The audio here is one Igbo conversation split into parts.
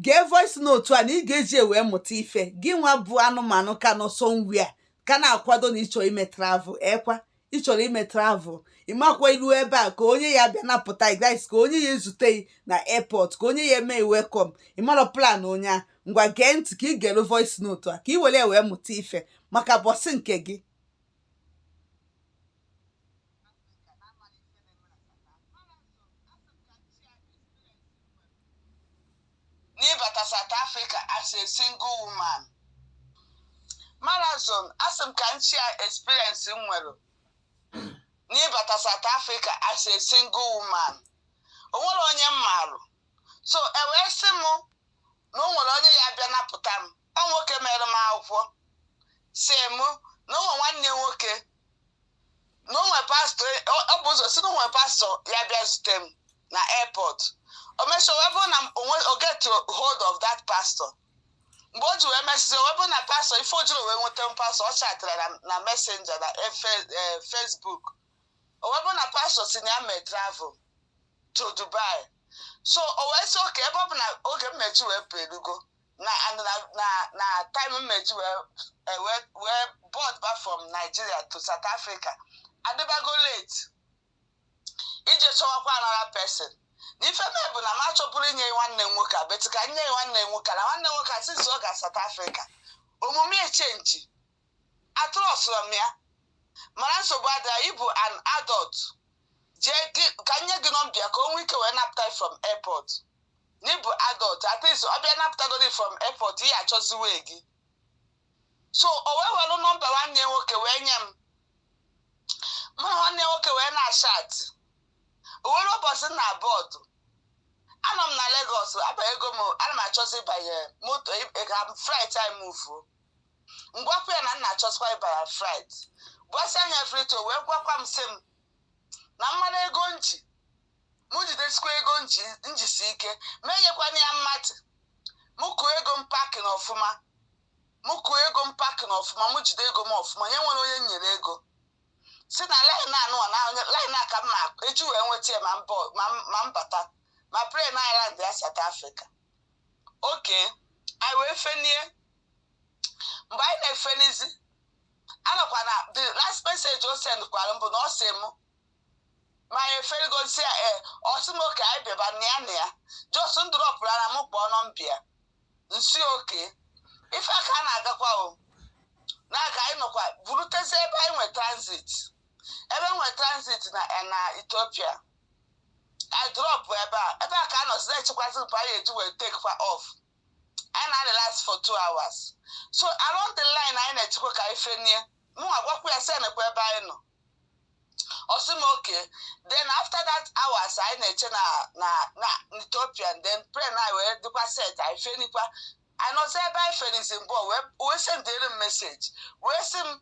gee voice note a na ị ga-eji wee mụta ife gị nwa bụ anụmanụ ka nọ somewhere ka na-akwado na ịchọrọ ime travel ekwa ịchọrọ ime travel ị makwa i lu ebe a ka onye ya-abịa napụta gị ka onye ya-ezute gị na airport ka onye ya-eme gị welcome ị marọ plan onye a ngwa gee ntị ka ị gelụ voice note a ka ị were wee mụta ife maka ụbọsị nke gị n'ịbata South Africa as a single woman marazon asị m ka m share experience m nwere n'ịbata South Africa as a single woman o nwere onye m marụ so o wee sị m na o nwere onye ya-abịa napụta m ọ nwoke mere m akwụkwọ sị m na o nwe nwanne nwoke na o nwe pastọ o bu ụzọ sị na o nwe pastọ ya-abịa zute m na airport o mesịa wee bụrụ na o get hold of that pastor mgbe o ji wee mesịzi wee bụrụ na pastọ ife o jirọ wee nweta m pastọ ọ chatara na messenger na eh, eh, Facebook o wee bụrụ na pastọ sị na ya mee travel to dubai so o wee sị oke ebe ọ bụ na oge m ma-eji wee pụ elugo na na na na time m ma-eji wee eh, wee wee board ba from nigeria to south africa adịbago late ije chọwakwa another person na ife mee bụ na m achọburọ inye gị nwanne m nwoke a but ka m nye gị nwanne m nwoke a, na nwanne m nwoke a since ọ ga south africa omume echenji atrọstịrọ m ya mana nsogbu adịrọ ị bụ an adult jee gị- ka m nye gị nọmba ya ka o nwee ike wee napụta gị from airport na ị bụ adult at least ọ bịa napụtagodi from airport ị achọzi way gị so o wee were nọmba nwanne ya nwoke wee nye m mụ na nwanne ya nwoke wee na-achat o wee lue ụbọchị m na-abọọdụ anọ m na Lagos abanyego m ana m achọzi ịbanye moto ị- ka flight anyị muvuo m gwakwa ya na m na-achọzikwa ịba na flight gwasị anya flight o wee gwakwa m sị m na m mara ego m ji mụ jidesikwa ego m jisi ike mụ enyekwana ya mmadụ mụ kụọ ego m paakị na ọfụma mụ kụọ ego m paakị na ọfụma mụ jide ego m ọfụma nye nwere onye m nyere ego sị na line a nwa line a ka m ma-eji wee nweta ya ma m bata ma plane anyị landịa South Africa oke anyị wee fenie mgbe anyị na-efenizi anọkwa na the last message o sendkwara m bụ na ọ sị m ma anyị efenigo m sị ya ee ọ sị m oke anyị bịaba na ya na ya just m drọpụrụ na m kpọọ nọmba ya m sị oke ife a ka na-agakwa o na-aga anyị nọkwa burutezi ebe anyị nwe transit ebe nwe transit na na ethiopia anyị drop ebe a ebe a ka a nọzi na-echekwazi mgbe anyị eji wee take kwa off anyị na-adị last for two hours so along the line anyị na-echekwa ka anyị fenie mụnwa gwakwa ya sị nekwa ebe anyị nọ ọ sị m okay then after that hours anyị na-eche na na na Ethiopia then plane anyị wee dịkwa set anyị fenikwa anyị nọzi ebe anyị fenizi mbụ wee wee sendịrị m message wee sị m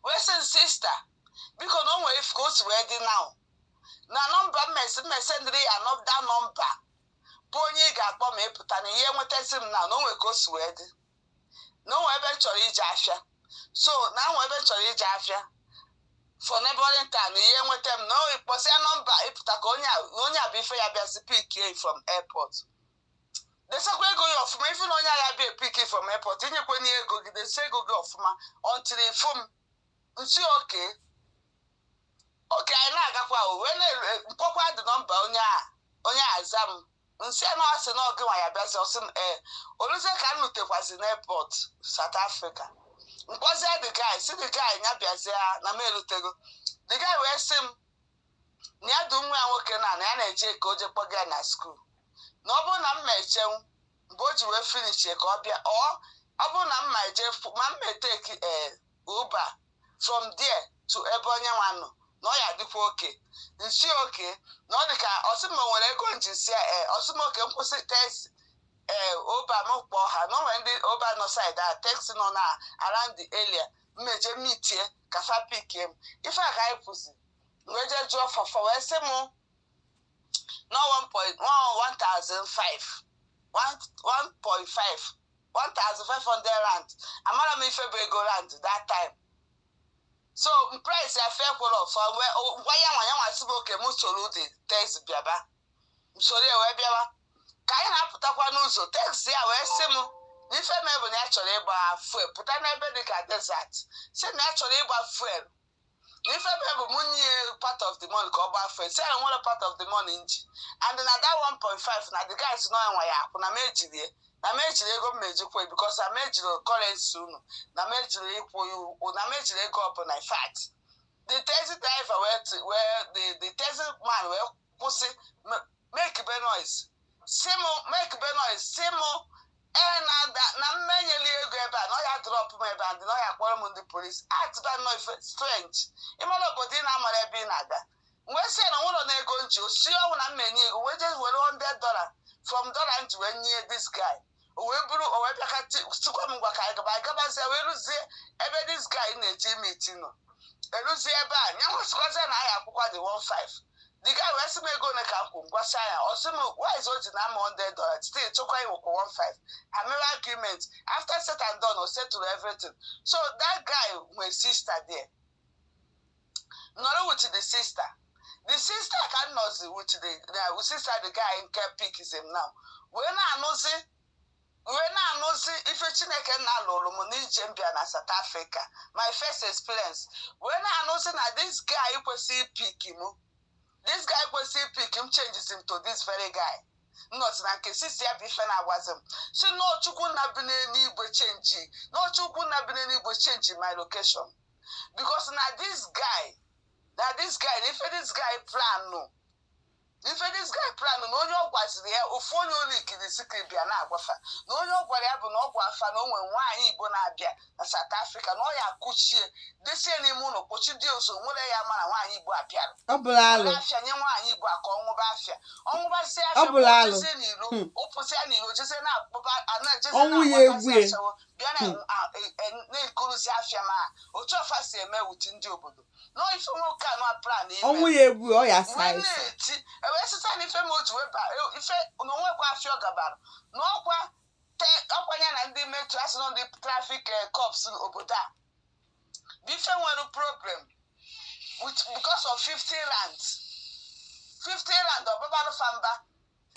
wee sị m sister biko na o nwere ka o si wee dị now na number mmesi m ma esendịrị ya another number bụ onye ị ga-akpọ ma ị pụta na ihe nwetazi m na na o nwere ka o si wee dị na o nwere ebe m chọrọ ije afịa so na o nwe ebe m chọrọ ije afịa for neighboring town na ihe nweta m na o kpọsịa number ị pụta ka onye a bụ ife ya-abịazi pikie from airport desakwa ego gị ọfụma even onye ya-abịa epick from airport enyekwa onye ego gị desa ego gị ọfụma until ị fụ m m sị okay okay anyị na-agakwa m wee kpọkwa the number onye a onye aza m m sị na ọ sị na ọ gịnwa ya-abịazi ọ sị m ee o luzie ka m lutekwazi n'airport South Africa m kpọzie the guy sị the guy ya bịazie na m elutego the guy wee sị m na ya du nwa ya nwoke na na ya na-eje ka o je kpọga ya na school na ọ bụrụ na m ma echenwu mgbe o ji wee finishie ka ọ bịa ọ ọ bụrụ na m ma eje fu- ma m ma etake ee Uber from there to ebe onye nwa nọ na ọ ya-adịkwa okay m sị okay na ọ dị ka ọ sị ma o nwere ego m ji sị ya ee ọ sị m okay m kwụsị taxi ee Uber m kpọọ ha na o nwere ndị Uber nọ side a taxi nọ na around the area m ma eje meetie ka fa pikie m ife a ka anyị kwuzi wee jee jụọ fa fa wee sị m na 1.15 1.5 1500 rand amara m ife bụ ego rand that time so price ya fa kwuru ọfọ gwa yanwa yanwa sị m okay m soro the taxi bịaba m soro ya wee bịawa ka anyị na-apụtakwa n'ụzọ taxi a wee sị m n'ife mbụ na ya chọrọ ịgba fuel pụta n'ebe dị ka desert sị na ya chọrọ ịgba fuel ife mbụ m nye part of the money ka ọ gbaa fuel sị nwere part of the money m ji and na that 1.5 na the guy sị na ọnwa ya-akwụ na m ejirie na m ejiri ego m ejikwa because na m ejiri currency unu na m ejiri ịkwụ ụgwọ na m ejiri ego ọbụla in fact the taxi driver wee the taxi man wee kwụsị m- makebe noise sị m makebe noise sị m ee na na- na m ma enyeli ego ebe a na ọ ya drop m ebe a and na ọ ya-akpọrọ m ndị police atịba nnọọ ife strange ịmara obodo ị na-amara ebe ị na-aga wee sị na nwụrọ na ego m ji ọ sị ọnwụ na m ma enye ego wee jee were 100 dollar from dollar m ji wee nye this guy o wee bụrụ o wee bịa sịkwa m ngwa ka anyị gaba anyị gabazie wee ruzie ebe this guy na-eje imeet nọ eruzie ebe a ya nwa sịkwazie na a ya-akwụkwa ya 15 the guy wee sị m ego ole ka m kwụ m gwasịa ya ọ sị m why is o ji nara m 100 dollar still chọkwa iwekwu 15 ha mere argument after said and done o settle everything so that guy nwee sister there nọrọ with the sister the sister ka m nọzi with the uh, sister the guy nke pickzi m now wee na-anụzi wee na-anụzi ife chineke nna lụrụ m n'ije m bịa na South Africa my first experience wee na-anụzi na this guy kwesịrị ipick m this guy kwesịrị ipick m changezi m to this very guy m nọzi na nke sister ya bụ ife na-agwazi m sị na ọ chukwu nna bi n'eluigwe change na ọ chukwu nna bi n'eluigwe change my location because na this guy na this guy na ife this guy planụ ife this guy planụ na onye ọ gwaziri ya ofu onye ụlọ ikiri sikiri bịa na-agwa fa na onye ọ gwara ya bụ na ọ gwaa fa na o nwere nwaanyị igbo na-abịa na South Africa na ọ ya kụchie desie n'ime ụlọ kpochi dị ozo nwere ya ma na nwaanyị igbo abịara afịa nye nwaanyị igbo aka ọ ṅụba afịa ọ ṅụbazi afịa ọ pụsịa n'iro jezie na-akpụba a na-ejezi na-agbakasị ashawo bịa na Hmm. a- e- e- na-egorozi afịa ma otu fa si eme with ndị obodo na ife nwoke a nwa plan na-eti e wee sịta na ife m otu wee ba e- ife na o nwekwa afịa ọ gabara na ọkwa te- ọkwa ya na ndị metro asị na ndị traffic cops obodo a bụ ife nwere problem with because of 50 rand 50 rand ọ babara fa mba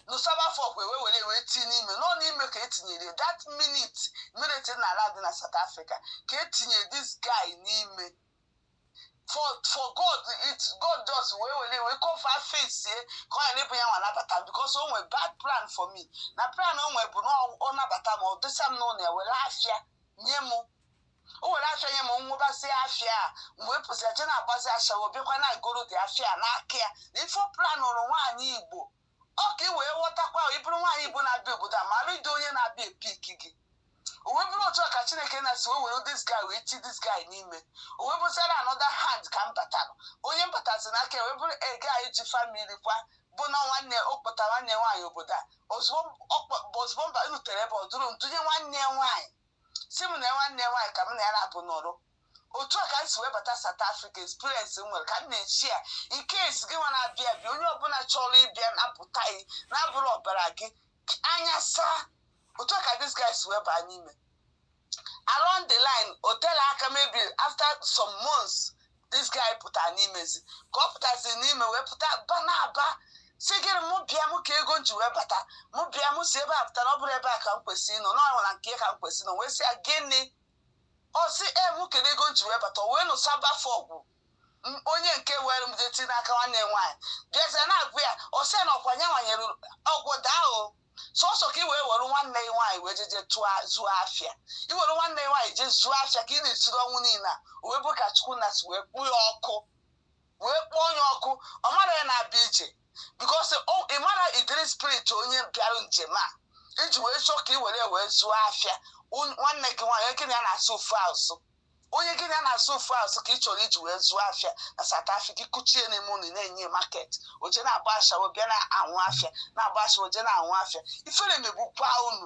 nụsaba fa ọgụ e wee were wee tinye n'ime nọ n'ime ka e tinyere that minute m na-aland na South Africa ka e tinye this guy n'ime for for God it God just wee were wee cover face ye ka ọ ghara ịbụ ya nwa nabata m because o nwere bad plan for me na plan o nwere bụ na ọ nabata m o dosa m n'ụlọ ya were afịa nye m o were afịa nye m m ṅụbazie afịa a m bịa pụsịa jee na-agbazi ashawo bịakwa na-egorozi afịa n'aka ya na ife ọ planụrụ nwaanyị igbo ọ ka ị wee ghọtakwa ị bụrụ nwaanyị igbo na-abịa obodo a mara ụdị onye na-abịa ipick gị o wee bụrụ otu a ka chineke nna si wee were this guy wee tii this guy n'ime o wee bụziara another hand ka m batara onye m batazi n'aka wee bụrụ ege anyị ji family kwa bụ na nwanne ọ kpọta nwanne nwaanyị obodo a ozugbo m bịarutere ebe o duru m dunye nwanne nwaanyị sị m na nwanne ya nwaanyị ka m na ya na-abụ nọrọ otu a ka m si wee bata South Africa experience m nwere ka m na-eshare in case gị nwa na-abịa abịa onye ọbụla chọrọ ịbịa nabata gị na-abụrọ ọbara gị anya saa otu a ka this guy si wee baa n'ime along the line o terọ aka maybe after some months this guy pụta n'imezi ka ọ pụtazi n'ime wee pụta na-aba sị gịnị mụ bịa mụ ka ego ji wee bata mụ bịa mụ si ebe a pụta na ọ bụrọ ebe a ka m kwesịrị ịnọ na ọnwụla nke ka m kwesịrị ịnọ wee sị ya gịnị ọ sị mụ kedu ego ji wee bata wee nụsa bafe ọgwụ onye nke were m jeti n'aka nwanne m nwaanyị bịazie na-agwa ya ọ sị ya na ọkwa ya nwanyere ọgwụ daa o sọsọ ka i wee were nwanne gị nwaanyị wee jeje zụọ afịa i were nwanne gị nwaanyị jee zụọ afịa ka ị na-esiri ọnwụ niile a o wee bụ ka chukwu na si wee kpọọ ya ọkụ wee kpọọ onye ọkụ ọ mara ya na-abịa ije because ị marọ ụdịrị spirit onye bịara njem a i ji wee chọọ ka i were ya wee zụọ afịa nwanne gị nwaanyị gị na ya na-asụ ofu asụ onye gị na ya na-asụ ofu asụ ka ị chọrọ iji wee zụọ afịa na South Africa i kuchie n'ime ụlọ na-enye market o je na-agba ashawo bịa na-anwụ afịa na-agba ashawo o je na-anwụ afịa ifere megbukwa unu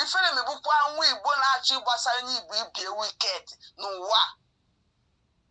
ifere megbukwa nwa Igbo na-achọ ịgbasara onye Igbo ibe ya wicked n'ụwa